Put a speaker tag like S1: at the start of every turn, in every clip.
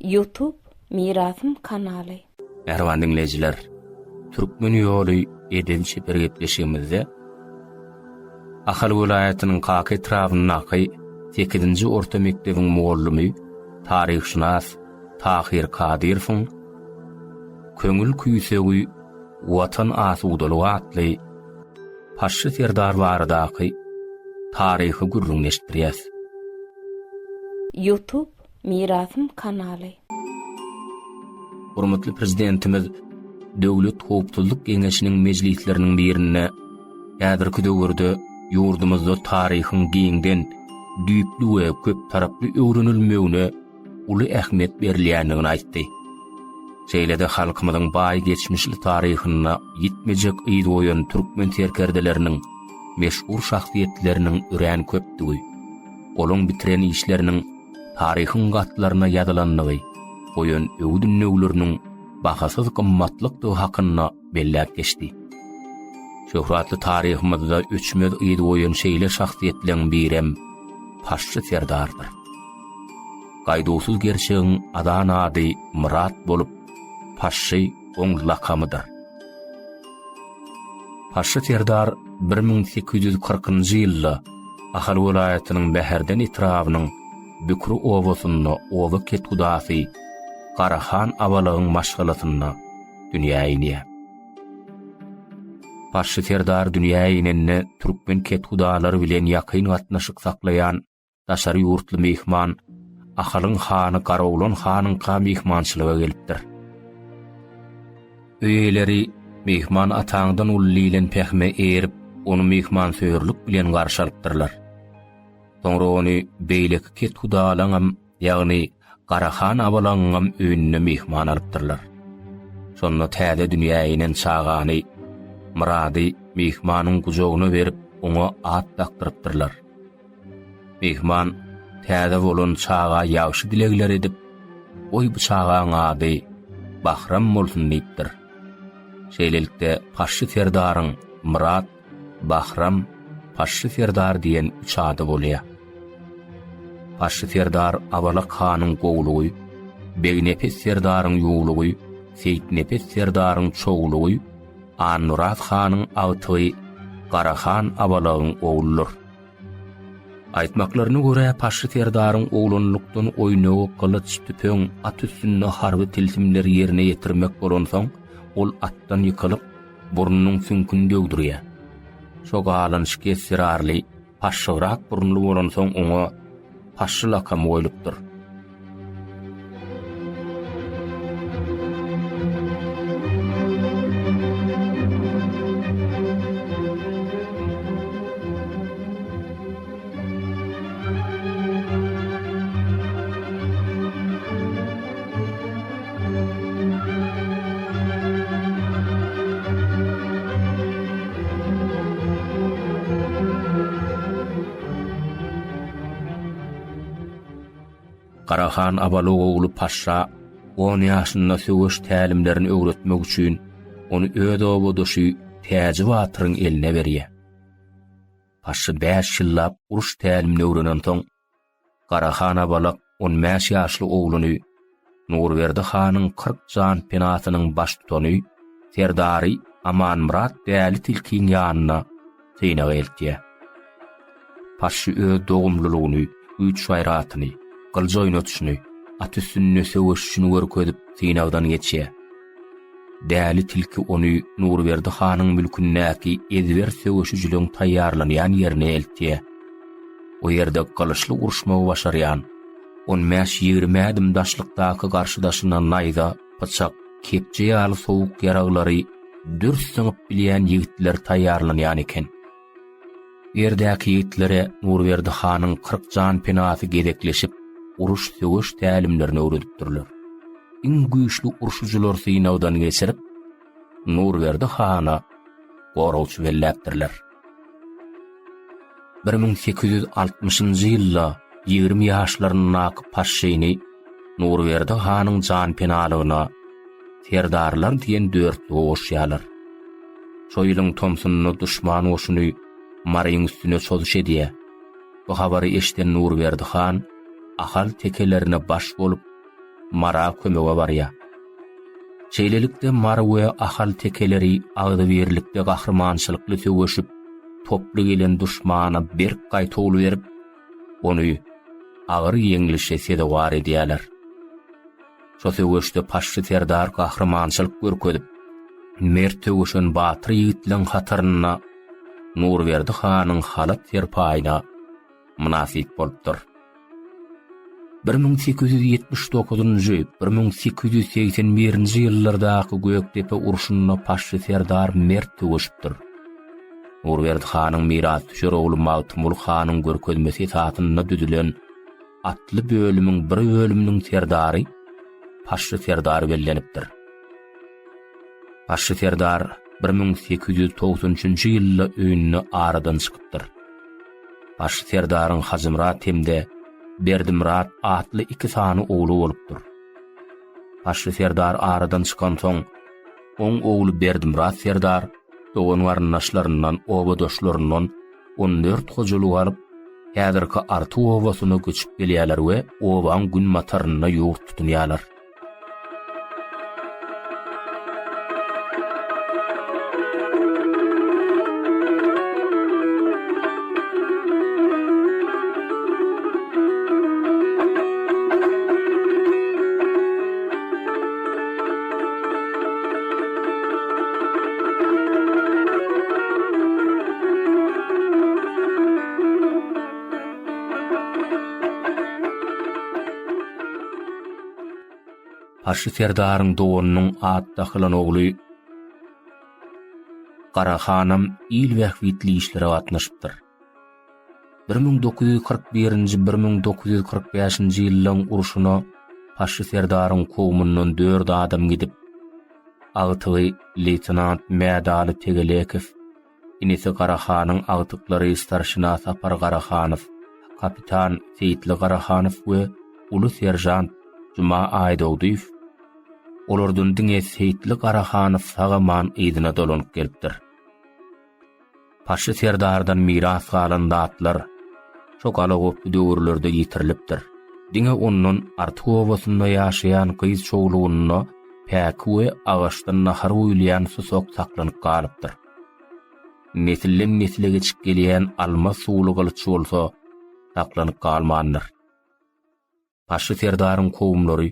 S1: Youtube Mirasym kanaly. Mähriban diňleýjiler, Türkmen ýoly edebi-çeper gepleşigimizde Ahal welaýatynyň Kaka etrabyndaky sekizinji orta mekdebiň mugallymy, taryhşynas Tahyr Kadyrowyň Köňül küýsegi Watan asudalygy atly Paşşy serdar baradaky taryhy gürrüňini eşitdirýäs. Youtube Mirasym kanaly. Hormatly Prezidentimiz Döwlet howpsuzlyk geňeşiniň mejlisleriniň birinde häzirki döwürde ýurdumyzda taryhyň giňden, düýpli we köptaraply öwrenilmegine uly ähmiýet berilýändigini aýtdy. Şeýle-de halkymyzyň baý geçmişli taryhynda ýitmejek yz goýan türkmen serkerdeleriniň, meşhur şahsyýetleriniň örän köpdügi, olaň bitiren işleriniň taryhyň gatlaryna ýazylandygy, goýan öwüt-ündewleriniň bahasyz gymmatlykdygy hakynda belläp geçdi. Şöhratly taryhymyzda öçmez yz goýan şeýle şahsyýetleriň birem Paşşy Serdardyr. Gaýduwsyz gerçegiň adan ady Myrat bolup, Paşşy oň lakamydyr. Paşşy serdar bir müň sekiz ýüz kyrkynjy ýylda Ahal welaýatynyň Mäherden etrabynyň Bükri obasynda oba kethudasy Garahan Abalygyň maşgalasynda dünýä inýär. Paşşy serdar dünýä inende türkmen kethudalary bilen ýakyn gatnaşyk saklaýan Daşary ýurtly myhman Ahalyň hany Garagumly hanyňka myhmançylyga gelipdir. Öý eýeleri myhman ataňdan uly diýlen pähime erip, ony myhmansöýerlik bilen garşy alypdyrlar. Soňra ony beýleki kethudalaňam ýagny Garahan abalaňyňam öýüne myhman alypdyrlar. Şonda täze dünýä inen çagany Myrady myhmanyň gujagyna berip, oňa at dakdyrypdyrlar. Myhman täze bolan çaga ýagşy dilegler edip, Goý bu çagaň ady Bahram bolsun diýipdir. Şeýlelikde, Paşşy serdaryň Myrat Bahram, Paşşy Serdar diýen üç ady bolýar. Paşşy Serdar Abalak hanyň gowlugy, Begnepes Serdaryň ýuwlugy, Seýitnepes Serdaryň çowlugy, Annurat hanyň agtygy Garahan Abalagyň ogludyr. Aýtmaklaryna görä, Paşşy Serdaryň oglanlykdan oýnagy gylyç, tüpeň, at üstünde harby tilsimleri ýerine ýetirmek bolansoň, ol atdan ýykylyp, burnunyň süňküni döwdürýär. Şo galanyşyk essirarly, paşşygrak burunly bolansoň oňa Paşşy lakamy goýlupdyr. Gara han Abalok ogly Paşşa on ýaşynda söweş tälimlerini öwretmek üçin, ony öz obadaşy Täji batyryň eline berýär. Paşşy bäş ýyllap uruş tälimini öwrenensoň, Gara han Abalak on bäş ýaşly ogluny, Nurberdi hanyň kyrk jan penasynyň baştutany, serdary Amanmyrat Däli tilkiň ýanyna synaga eltýär. Paşşy öz dogumlylygyny, güýç-gaýratyny, gylyj oýnatyşyny, at üstünde söweşişini görkezip, synagdan geçýär. Däli tilki ony Nurberdi hanyň mülkündäki ezber söweşijiligiň taýýarlanýan ýerine eltýär. O ýerde gylyçly uruşmagy başarýan, on bäş-ýigrimi ädim daşlykdaky garşydaşyna naýza, pyçak, kepje ýaly sowuk ýaraglary dürs zyňyp bilýän ýigitler taýýarlanýan eken. Ýerdäki ýigitlere Nurberdi hanyň kyrk jan penasy gezekleşip, uruş-söweş tälimlerini öwredipdirler. Iň güýçli urşujylar synagdan geçirip, Nurberdi hana goragçy belläpdirler. Bir müň sekiz ýüz altmyşynjy ýylda ýigrimi ýaşlaryndaky Paşşyny Nurberdi hanyň janpenalygyna serdarlar diýen dörtlügi goşýarlar. Şo ýylyň tomsunda duşman goşuny Maryň üstüne çozuş edýär. Bu habary eşiden Nurberdi han Ahal tekelerine baş bolup, Mara kömege barýar. Şeýlelikde, Mary we Ahal tekeleri agzybirlikde gahrymançylykly söweşip, toply gelen duşmana berk gaýtawul berip, ony agyr ýeňlişe sezewar edýärler. Şo söweşde Paşşy serdar gahrymançylyk görkezip, mert söweşen batyr ýigitleriň hatarynda Nurberdi hanyň halat-serpaýyna mynasyp bolupdyr. 1879-1881-nji ýyllardaky Gökdepe urşunda Paşşy serdar mert söweşipdir. Nurberdi hanyň mirasdüşer ogly Magtymguly hanyň görkezmesi esasynda düzülen atly bölümiň bir bölüminiň serdary Paşşy serdar bellenipdir. Paşşy serdar 1893-nji ýylda öýünde aradan çykypdyr. Paşşy serdaryň Hajymyrat hem-de Berdimyrat atly iki sany ogly bolupdyr. Paşşy serdar aradan çykansoň, Oň ogly Berdimyrat serdar dogan-garyndaşlaryndan, obadaşlaryndan on dört hojalyk alyp, häzirki Arty obasyna göçüp gelýärler we obaň günbatarynda ýurt tutunýarlar. Aşy serdaryň dowanynyň at dakylan ogly Garahanam il bähbitli işlere gatnaşypdyr. Bir müň dokuz ýüz kyrk birinji, bir müň dokuz ýüz kyrk bäşinji ýyllaryň urşuna Paşşy serdaryň kowumyndan dört adam gidip, agtygy leýtenant Mädaly Tegelekow, inisi Garahanyň agtyklary starşina Sapar Garahanow, kapitan Seýitli Garahanow we uly seržant Juma Aýdogdyýew, olardan diňe Seýitli Garahanow sag-aman yzyna dolanyp gelipdir. Paşşy serdardan miras galan zatlar şo galagoply döwürlerde ýitirilipdir. Diňe ondan Artyk obasynda ýaşaýan gyz çowlugynda päki we agaçdan nahar guýulýan susak saklanyp galypdyr. Nesilden-nesle geçip gelýän almaz suwly gylyç bolsa saklanyp galmandyr. Başy serdaryň kowumlary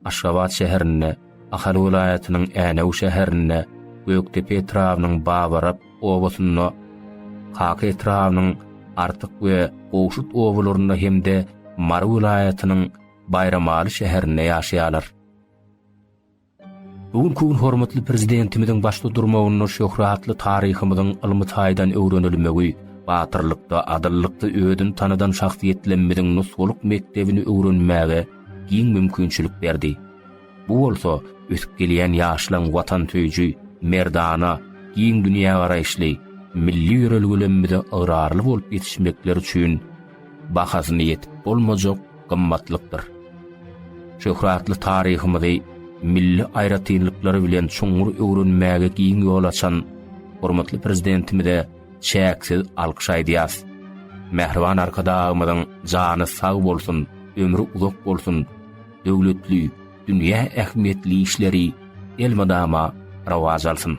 S1: Aşgabat şäherinde, Ahal welaýatynyň Änew şäherinde, Gökdepe etrabynyň Babarap obasynda, Kaka etrabynyň Artyk we Gowşut obalarynda hem-de Mary welaýatynyň Baýramaly şäherinde ýaşaýarlar. Bu günki gün hormatly Prezidentimiziň başda durmagynda şöhratly taryhymyzyň ylmy taýdan öwrenilmegi, batyrlykda, adyllykda özüni tanadan şahsyýetlemmiziň nusgalyk mekdebini öwrenmäge giň mümkinçilik berdi. Bu bolsa ösüp gelýän ýaşlaryň watansöýüji, merdana, giň dünýägaraýyşly, milli ýörelgelemmize ygrarly bolup ýetişmekleri üçin bahasyna ýetip bolmajak gymmatlykdyr. Şöhratly taryhymyzy milli aýratynlyklary bilen çuňňur öwrenmäge giň ýol açan hormatly Prezidentimize çäksiz alkyş aýdýarys. Mähriban Arkadagymyzyň jany sag bolsun, ömri uzak bolsun, döwletli, dünýä ähmiýetli işleri elmydama rowaç alsyn!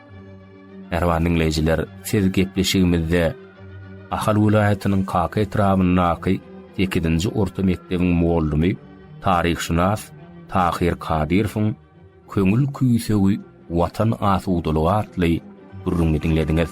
S1: Mähriban diňleýjiler, siz gepleşigimizde Ahal welaýatynyň Kaka etrabyndaky sekizinji orta mekdebiň mugallamy, taryhşynas Tahyr Kadyrowyň Köňül küýsegi Watan asudalygy atly gürrüňini diňlediňiz.